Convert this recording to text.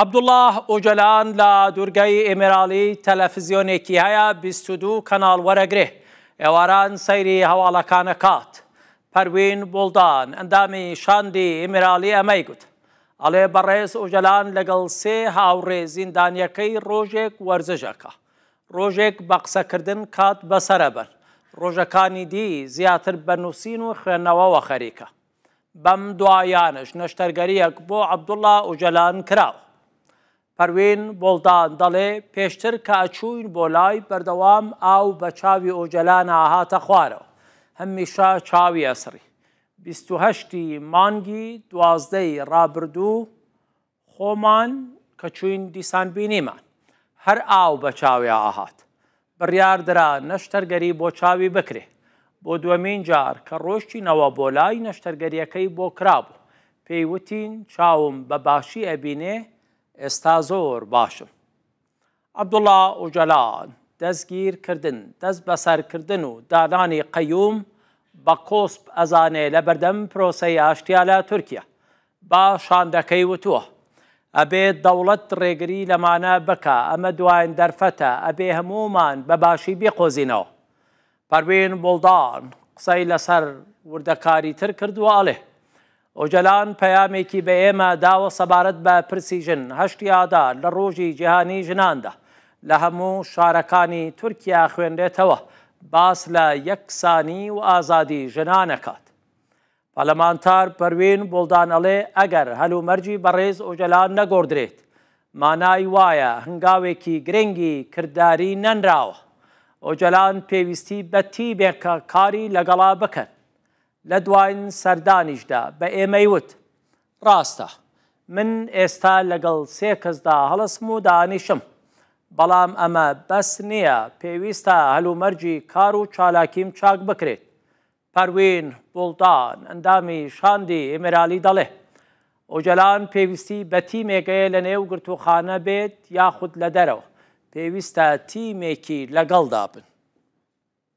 عەبدوڵا ئۆجەلان لە دوورگەی ئیمێراڵی تەلەفزیۆنێکی هەیە بیست و دوو کەناڵ وەرەگرێ ئێواران سەیری هەواڵەکانەکات. پەروین بوڵدان ئەندامی شاندی ئیمێراڵی ئەمەی گوت. ئەڵێ بەڕێز ئۆجەلان لەگەڵ سێ هاوڕێ زیندانیەکەی ڕۆژێک وەرزش ئەکا. ڕۆژێک بە قسەکردن کات بەسەر ئەبەن. ڕۆژەکانی دی زیاتر بە نووسین و خوێندنەوەوە خەریکە. بەم دواییانەش نەشتەرگەرییەک بۆ عەبدوڵڵا ئۆجەلان کراوە. پەروین بۆڵدان دەڵێ پێشتر کە ئەچووین بۆ لای بەردەوام ئاو بە چاوی ئۆجەلان ئاهاتە خوارەوە، هەمیشە چاوی ئەسڕی. بیست و هەشتی مانگی دوازدەی ڕابردوو خۆمان کە چووین دیسان بینیمان هەر ئاو بە چاویا ئەهات. بڕیار درا نەشتەرگەری بۆ چاوی بکرێ. بۆ دووەمین جار کە ڕۆیشتینەوە بۆ لای نەشتەرگەریەکەی بۆ کرابوو. پێی وتین چاوم بە باشی ئەبینێ ئێستا زۆر باشم. عەبدوڵا ئۆجالان، دەستگیر کردن، دەست بەسەر کردن و دانانی قەیوم بە کۆسپ ئەزانێ لە بەردەم پرۆسەی ئاشتیا لە تورکیا. بە شاندەکەی وتووە، ئەبێ دەوڵەت ڕێگری لەمانە بکا، ئەمە دواین دەرفەتە، ئەبێ هەموومان بە باشی بیقۆزینەوە. پەروین بوڵدان قسەی لەسەر وردەکاریتر کرد و ئەڵێ، ئۆجەلان پەیامێکی بە ئێمە داوە سەبارەت بە پرسی ژن، هەشتی ئادار لە ڕۆژی جیهانی ژناندا لە هەموو شارەکانی تورکیا خوێنرێتەوە، باس لە یەکسانی و ئازادی ژنان ئەکات. پەرلەمانتار پەروین بوڵدان ئەڵێ ئەگەر هەل و مەرجی بەڕێز ئۆجەلان نەگۆڕدرێت مانای وایە هەنگاوێکی گرنگی کرداری نەنراوە ئۆجەلان پێویستی بە تیمێک کە کاری لەگەڵا بکەن لە دواین سەردانیشدا بە ئێمەی وت ڕاستە من ئێستا لەگەڵ سێ کەسدا هەڵسم و دانیشم بەڵام ئەمە بەس نییە پێویستە هەل و مەرجی کار و چالاکیم چاک بکرێت پەروین بوڵدان، ئەندامی شاندی ئیمرالی دەڵێ، ئۆجەلان پێویستی بە تیمێک هەیە لەنێو گرتووخانە بێت یاخود لە دەرەوە، پێویستە تیمێکی لەگەڵدا بن.